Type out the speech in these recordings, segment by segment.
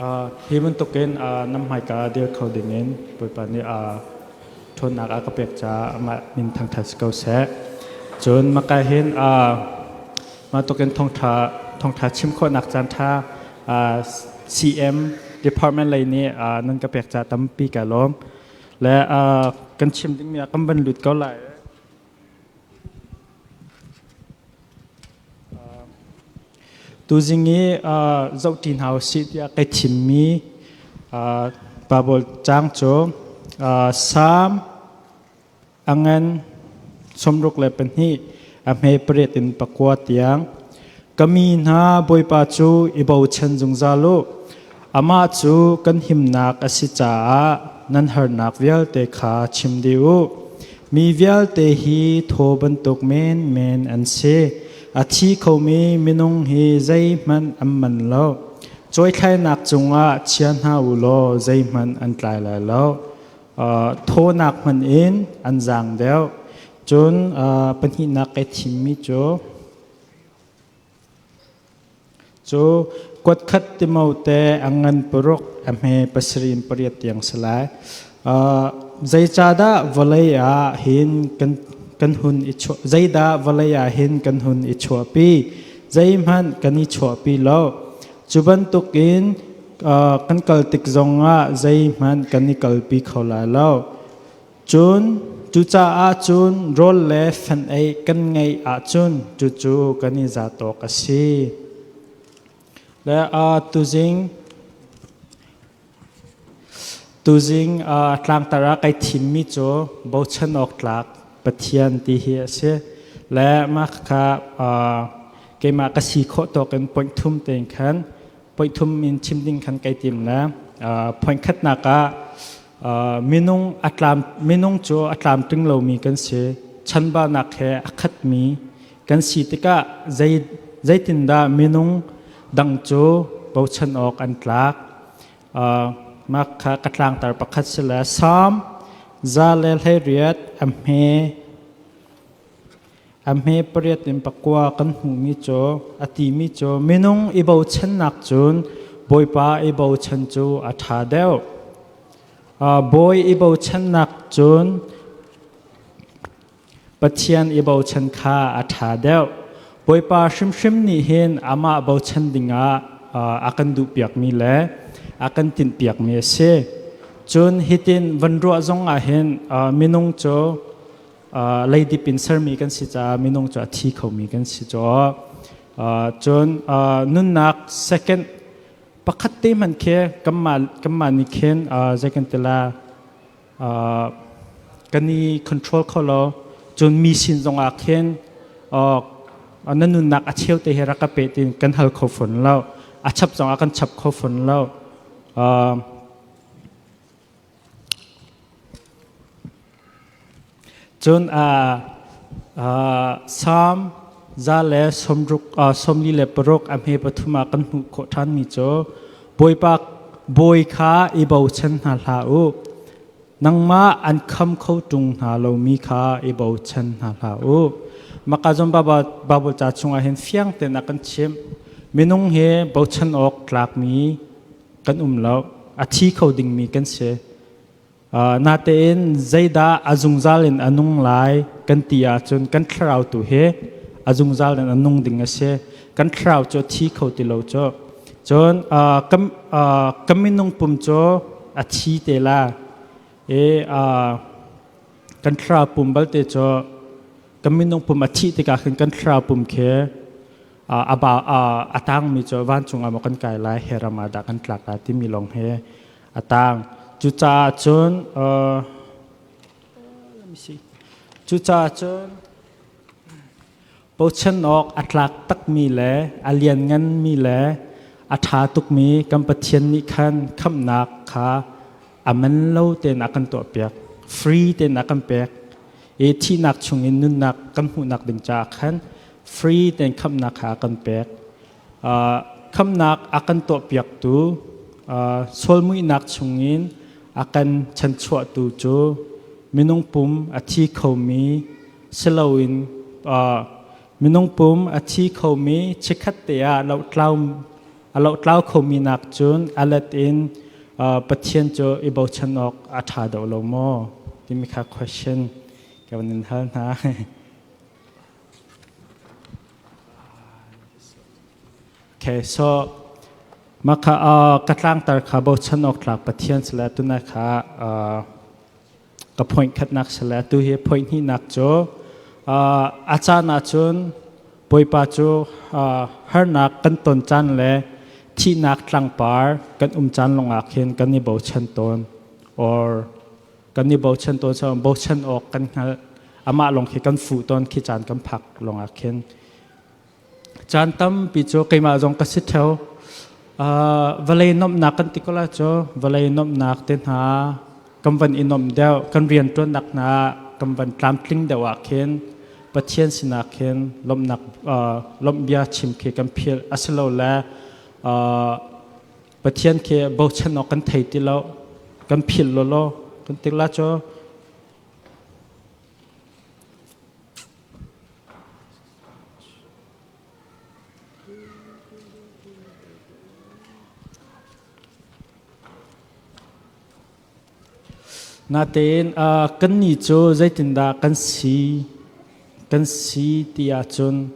Hi bantukin nan hmaika ah dir kho dingin Bawipa nih ṭhawnnak a ka pek caah amah min thangṭhat si ko seh. Cun maka hin mah tukin thawngṭha chim khawhnak caanṭha CM department lei nih nan ka pek ca tampi ka lawm. Le kan chim dingmi ah kan van lut ko lai. Tuzing i zohṭi hna usih tiah kai thimmi Baibal caang cu Salm angan sawmruk le pahnih a hme pariat in pakua tiang, Ka mi hna Bawipa cu i bochan zungzal u. Amah cu kan himnak a si caah nan harnak vialte kha chim dih u. Mi vialte hi thaw bantuk menmen an si. A thi khomi minung hi zeihmanh an man lo. Cuaithlainak cungah chia hna u law zeihmanh an tlai lai lo. Thawnak hmanh in an zaang deuh. Cun pahnihnak ka thimmi cu Cu kuatkhat timo te ang ngan puruk a hme pasrim pariat tiang si lai. Uh, zeicadah vawlei ah hin kan kan hun i chuah zeidah vawlei ah hin kan hun i chuahpi zeihmanh kan i chuahpi lo cu bantukin uh, kan kal tik zongah zeihmanh kan i kalpi kho lai lo Cun cucaah cun rawl le fenei kan ngeih ahcun cucu kan i zat awk a si. Le uh, tuzing tuzing uh, tlangtar ah kai thimmi cu bochan awk tlak Pathian ti hi a si. Le mah kha uh, keimah ka si khawh tawk in point thum tein khan point thum in chim ding khan kai tim le uh, point khatnak ah minung a tlam minung cu a tlamtling lomi kan si chanbanak he a khatmi kan si tikah zei zeitindah minung dang cu bochan awk an tlak mah kha ka tlangtar pakhat si le psalm za le hlei riat a hme A hme pariat in pakua kan hmuhmi cu a timi cu minung i bochannak cun Bawipa i bochan cu a ṭha deuh. Uh, bawi i bochannak cun Pathian i bochan kha a ṭha deuh. Bawipa hrimhrim nih hin amah bochan dingah uh, a kan duhpiakmi le a kan tinhpiakmi a si. Cun hitin van ruah zongah hin uh, minung cu leidip in sermi kan si caah minung cu a thi khomi kan si caw cun nunnak second pakhat te hman khe kanmah nih khin zeikan tila kan i control kho lo cun mi sin zongah khin na nunnak a cheu te he rak ka pe tin kan hal kho fon lo a chap zongah kan chap kho fon lo Cun Salm za le sawmli le paruk a hme pathum ah kan hmuh khawh ṭhanmi cu Bawipa bawi kha i bochan hna hlah u, nangmah an kham kho ṭung hna lomi kha i bochan hna hlah u. Makazon Baibal ca chungah hin fiang tein a kan chimh. Minung hi bochan awk tlakmi kan um lo a thi kho dingmi kan si natein zeidah a zungzal in a nung lai kan ti ahcun kan thlarau tu hi a zungzal in a nung ding a si kan thlarau cu thi kho ti lo cu cun ka minung pum cu a thi te la e kan thlarau pum balte cu kan minung pum a thih tikah khin kan thlarau pum khi a ba a tangmi cu vancung ah maw kan kai lai he ram ah dah kan tlak lai timi lawng he a tang cucaah cun let me see cucaah cun bochan awk a tlak takmi le a liannganmi le a ṭha tukmi kan Pathian nih khan khamnak kha aman lo tein a kan tuahpiak free tein a kan pek i thihnak chungin nunnak kan hmuhnak ding caah khan free tein khamhnak kha a kan pek uh, khamhnak a kan tuahpiaktu uh, solmuihnak chungin a kan chanchuahtu cu minung pum a thi khomi siloin uh, minung pum a thi khomi chikkhat te ah lo tlau A lotlau khomi nak cun a let in Pathian cu i bochan awk a ṭha deuh lo maw? timi kha question ka van in hal hna. Okay, so maka ka tlangtar kha bochan awk tlak Pathian sila tuna kha ka point khatnak sale atu hi point hnihnak cu a caan ahcun bawipa cu harnak kan ton caan le thihnak tlangpar kan um caan lungah khin kan i bochan tawn or kan i bochan tawn so bochan awk kan hngalh amah lawng khi kan fuh tawn khi caan kan phak lungah khin Caan tampi cu keimah zong ka si theo. Uh, vawlei nomhnak kan ti ko la cu vawlei nomhnak te hna kan van i nomh deuh kan rianṭuannak hna kan van tlamtling deuh ah khin Pathian sinak hin lomhnak uh, lomhbia chim khi kan philh asilole uh, Pathian khi bochan awk kan thei ti lo kan philh lolo kan ti la cu Natein kannih cu zeitindah kan si kan si ti ahcun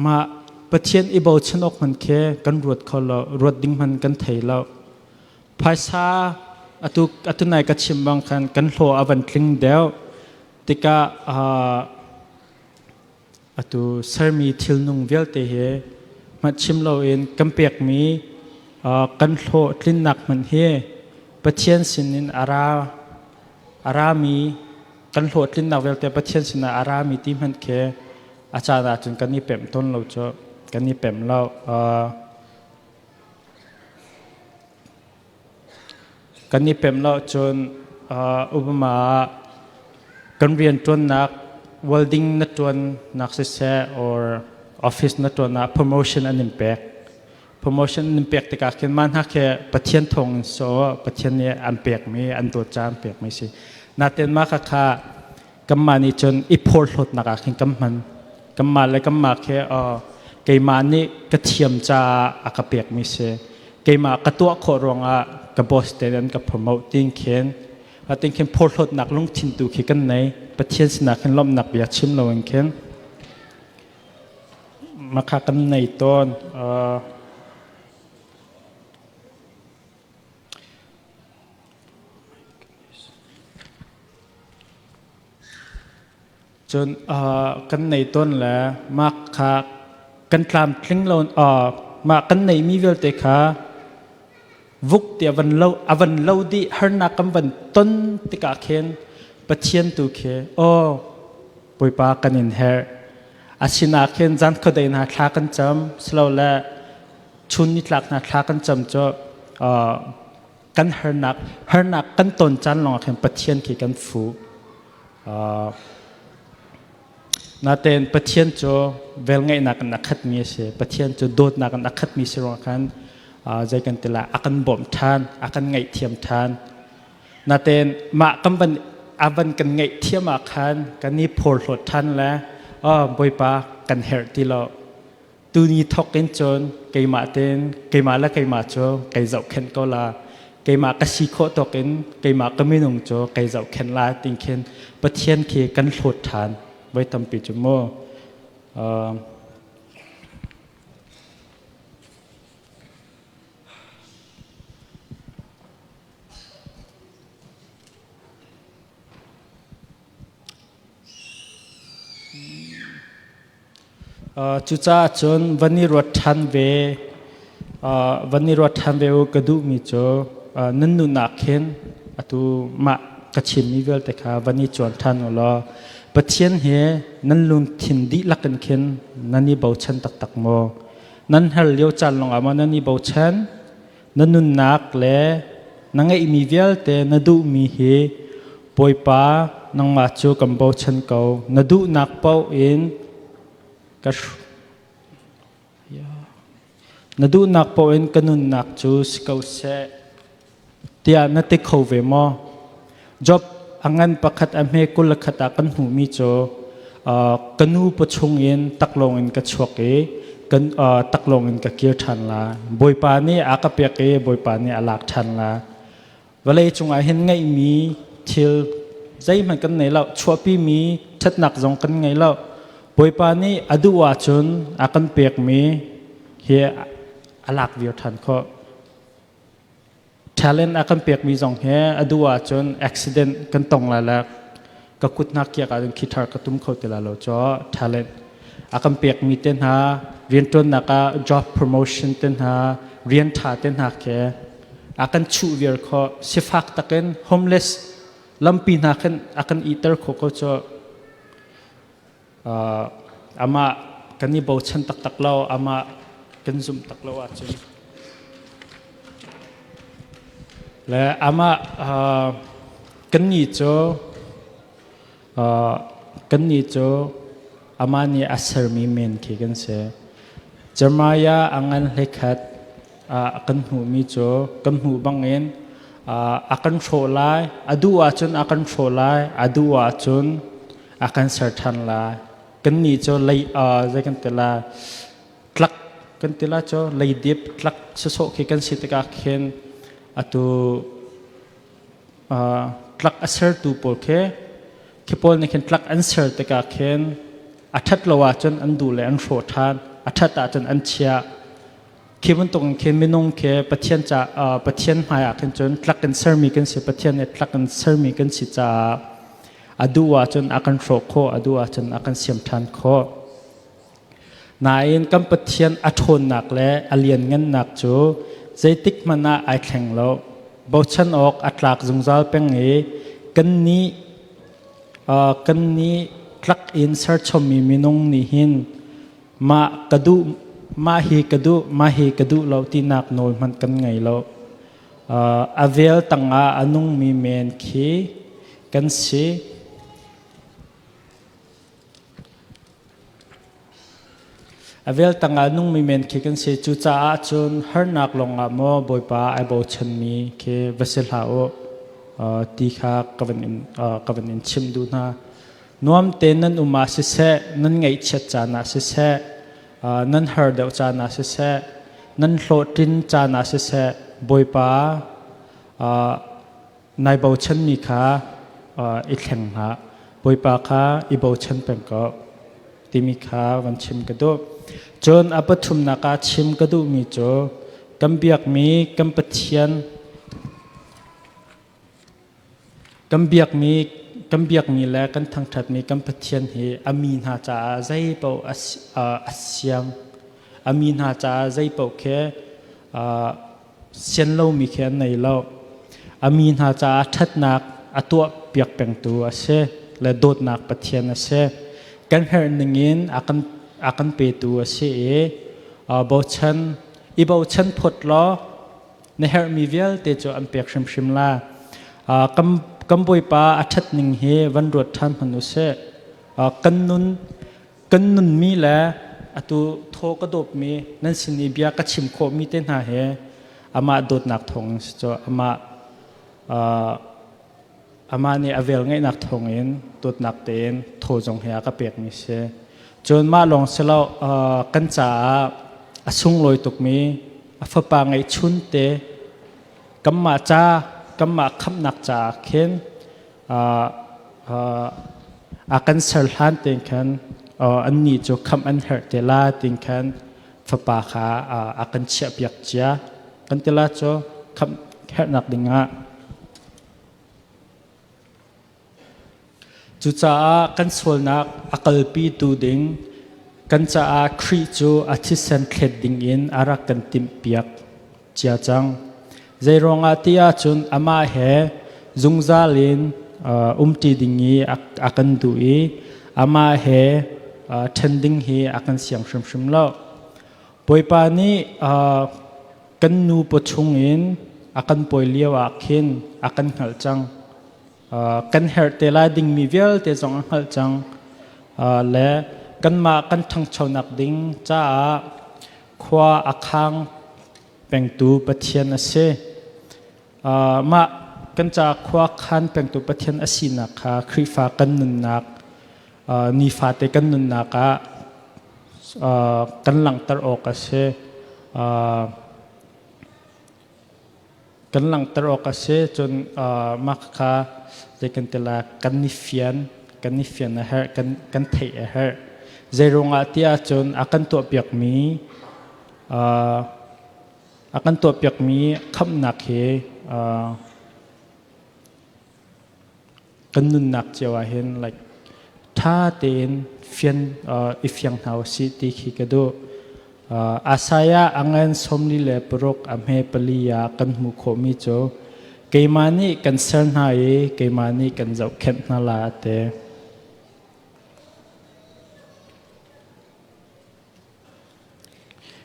mah Pathian i bochan awk hmanh khi kan ruat kho lo, ruat ding hmanh kan thei lo. Phaisa atu atu nai ka chim bang khan kan hlawh a van tling deuh. tikah atu sermi thilnung vialte hi hngatchim loin kan pekmi kan hlawh tlinnak hmanh hi Pathian sinin a ra a rami kan hlawh tlinnak vialte Pathian sinah a rami ti hmanh khi a caan ahcun kan i pem tawn lo cu kan i pem lo. Kan i pem lo cun Obama ah kan rianṭuannak welding na ṭuannak siseh or office na ṭuannak promotion an in pek. Promotion an in pek tikah khin mah hna khi Pathian thawng in si aw Pathian nih an pekmi an dawt caah an pekmi a si. Natein mah khakha kanmah nih cun i phorhlawtnak ah khin kan hman kanmah le kanmah khi keimah nih ka thiam caah a ka pekmi si keimah ka tuah khawh ruangah ka boss te an ka promote tin khin atin khin phorhlawtnak lungthin tu khi kan nei pathian sinah khin lawmhnak bia chim lo in khin maka kan nei tawn Cun kan nei tawn le mah kha kan tlamtling lo mah kan neimi vialte kha vuk ti avan lo avan lo dih harnak kan van ton tikah khin Pathian tu khi aw puipa kan in her asinah khin zan khuadei hna thla kan cam silo le chun nitlak hna thla kan cam cu kan harnak harnak kan ton caan lawngah khin Pathian khi kan fu natein Pathian cu velngeihnak in a khatmi a si Pathian cu dawtnak in a khatmi si ruangah khan zei kan tila a kan bawmh ṭhan a kan ngaihthiam ṭhan natein mah kan van avan kan ngaih thiam ah khan kan i phorhlawt ṭhan le Bawipa kan herh ti lo tuni thawk in cun keimah ten keimah le keimah cu kei zohkhenh ko la keimah ka si khawh tawk in keimah ka minung cu kei zohkhenh la ting khin pathian khi kan hlawt ṭhan voi tampi cu mu Cucaah cun van i ruat ṭhan ve, van i ruat ṭhan ve u ka duhmi cu nan nunnak khin atu mah ka chimmi vialte kha van i cuan ṭhan u law Pathian hi nan lungthin dihlak in khin nan i bochan taktak maw? Nan her lio caan lawngah maw nan i bochan? na nunnak le na ngeihmi vialte na duhmi hi Bawipa nangmah cu kan bochan ko na duhnak paoh in ka na duhnak paoh in ka nunnak cu si ko seh tiah na ti kho ve maw Job a ngan pakhat a hme kul khat ah kan hmuhmi cu ka nu pa chungin taklawng in ka chuak i kan taklawng in ka kir ṭhan la bawipa nih a ka pek i bawipa nih a lak ṭhan la vawlei cungah hin ngeihmi thil zeihmanh kan nei lo chuahpimi ṭhatnak zong kan ngei lo bawipa nih a duh ahcun a kan pekmi hi a lak vir ṭhan khawh talent a kan pekmi zong hi a duh ahcun accident kan tong lai le ka kut hna kiak ahcun khi thar ka tum kho ti lai lo cho talent a kan pekmi te hna rianṭuannak ah job promotion te hna rian ṭha te hna khi a kan chuh viar kho sifak takin homeless lampi hna khin a kan iter kho ko cho amah kan i bochan taktak lo amah kan zumh tak lo ahcun le amah kan ni cu kan ni cu amah nih a sermi men khi kan si Jeremiah a ngan hlekhat kan hmuhmi cu kan hmuh bangin a kan hrawh lai a duh ahcun a kan hrawh lai a duh ahcun a kan ser ṭhan la kan ni cu lei zei kan ti la tlak kan ti la cu leidip tlak sasawh khi kan si tikah khin atu tlak a sertu pawl khi khi pawl nih khin tlak an ser tikah khin a ṭhat lo ahcun an duh le an hrawh ṭhan a ṭhat ahcun an chia khi bantuk in khin minung khi pathian cha pathian hmai ah khin cun tlak in sermi kan si pathian nih tlak in sermi kan si caah a duh ah cun a kan hrawh khawh a duh ah cun a kan siam ṭhan khawh nain kan pathian a ṭhawnnak le a lianngannak cu zeitik hmanh ah ai thleng lo bochan awk a tlak zungzal peng i kan nih kan nih tlak in serchommi minung nih hin mah ka duh mah hi ka duh mah hi ka duh lo tinak nawl hmanh kan ngei lo uh, a vel tangah a nungmi men khi kan si a vel tangah nungmi men khi kan si cu caah cun harnak longah maw bawipa ai bochanmi khi va si hla u uh, ti kha ka van in, uh, ka van in chim duh hna nuam tein nan um ah siseh nan ngaihchiat caan ah siseh nan har deuh caan ah siseh nan hlawhtlin caan ah siseh bawipa nai bochanmi kha i thleng hna bawipa kha i bochan peng ko timi kha van chim ka duh cun a pathumnak ah chim ka duhmi cu kan biakmi kan pathian Kan biakmi, kan biakmi le kan thangṭhatmi kan Pathian hi a mi hna caah zeipaoh a, a siang. A mi hna caah zeipaoh khi sian lomi khi an nei lo. A mi hna caah ṭhatnak a tuah piak pengtu a si le dawtnak Pathian a si. Kan herh ningin a kan, a kan petu a si i bochan, i bochan phot law na herhmi vialte cu an pek hrimhrim la. Kan, kan bawipa a ṭhat ning hi van ruat ṭhan hmanh u sih. Kan nun, kan nunmi le atu thaw ka dawpmi nan sin i bia ka chim khawhmi te hna hi amah dawtnak thawng si cu amah Amah nih a velngeihnak thawngin dawtnak tein thaw zong hi a ka pekmi si. Cun mah lawng si lo kan caah a sunglawi tukmi a fapa ngeihchun te kanmah ca kanmah khamnak caah khin a kan ser hlan tein khan annih cu khamh an herh te la tin khan fapa kha a kan chiahpiak cia kan tila cu khamh herhnak dingah Cucaah kan sualnak a kalpitu ding kan caah Khrih cu a thisen thlet dingin a rak kan timhpiak cia cang. Zei ruangah ti ahcun amah he zungzal in uh, umṭi ding i a, a kan duh i amah he uh, ṭhen ding hi a kan siang hrimhrim lo. Bawipa nih kan nu pa chungin a kan pawi lio ah khin a kan hngalh cang. kan herh te lai dingmi vialte zong a hngalh cang le kanmah kan ṭhangchonak ding caah khua a khang pengtu Pathian a si. Mah kan ca khuakhan pengtu Pathian a sinak kha Khrihfa kan nunnak nifate kan nunnak ah kan langhter awk a si. Kan langhter awk a si cun mah kha zei kan ti la kan i fian kan i fian a herh kan kan theih a herh zei ruangah tiah cun a kan tuahpiakmi A kan tuahpiakmi khamhnak hi kan nunnak cio ah hin like ṭha tein fian i fiang hna u si ti khi ka duh. Asaiah angen somli le paruk a hme pali ah kan hmu khawhmi cu keimah nih kan ser hna i keimah nih kan zohkhenh hna la te.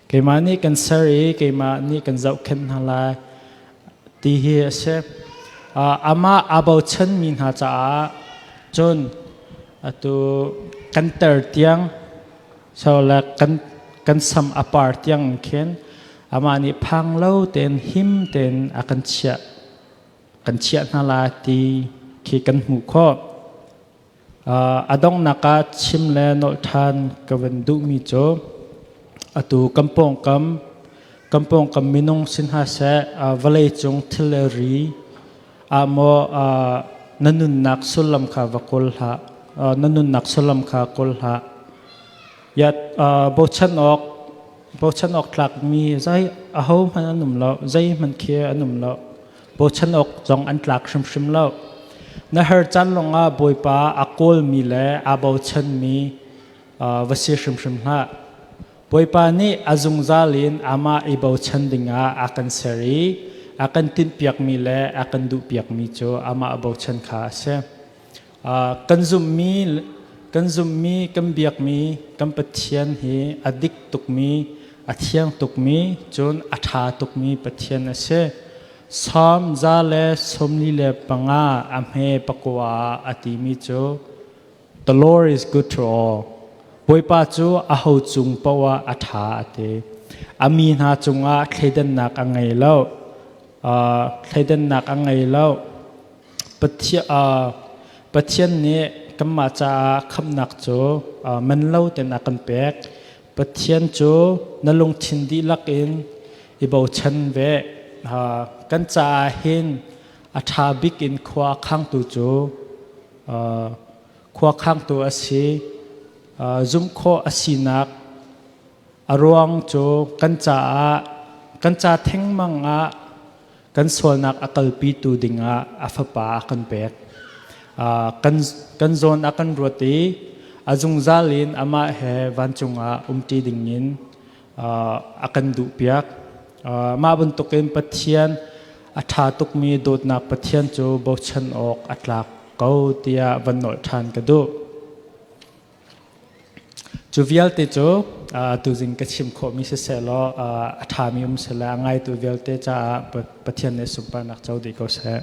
Keimah nih kan ser i keimah nih kan zohkhenh hna lai ti hi a si. Amah aa bochanmi hna caah cun atu kan ter tiang so le kan kan sam a par tiang in khin amah nih phang lo tein him tein a kan chiah kan chiah hna lai ti khi kan hmuh khawh. a donghnak ah chim le nolh ṭhan ka van duhmi cu atu kan pawngkam kan pawngkam minung si hna seh vawlei cung thil le ri ah maw na nunnak sullam kha va kawl hlah na nunnak sullam kha kawl hlah ya bochan awk bochan awk tlakmi zei ahohmanh an um lo zeihmanh khi an um lo Bochan awk zong an tlak hrimhrim lo. Na her caan lawngah Bawipa a kawlmi le aa bochanmi va si hrimhrim hlah. Bawipa nih a zungzal in amah i bochan dingah a kan ser i a kan tinhpiakmi le a kan duhpiakmi cu amah bochan kha a si. kan zummi kan zummi kan biakmi kan pathian hi a dik tukmi a thiang tukmi cun a ṭha tukmi pathian a si Psalm za le sawmli le panga a hme pakua a timi cu The Lord is good to all Bawipa cu a ho cung poah a ṭha a ti a mi hna cungah thleidannak a ngei lo uh, thleidannak a ngei lo Pathian nih kanmah caah khamnak cu man lo tein a kan pek. Pathian cu na lungthin dihlak in i bochan ve. Kan caah hin a ṭha bik in khua a khangtu cu khua khangtu a si. Zumh khawh a sinak A ruang cu kan caah kan ca thengmang ah kan sualnak a kalpitu dingah a fapa a kan pek. Uh, kan, kan zawn a kan ruat i a zungzal in amah he vancung ah umṭi dingin uh, a kan duhpiak. Uh, mah bantukin Pathian a ṭha tukmi dawtnak Pathian cu bochan awk a tlak ko tiah van nolh ṭhan ka duh. Cu vialte cu tuzing ka chim khawhmi sisehlaw a ṭhami um seh le a ngaitu vialte caah Pathian nih sunparnak co dih ko seh.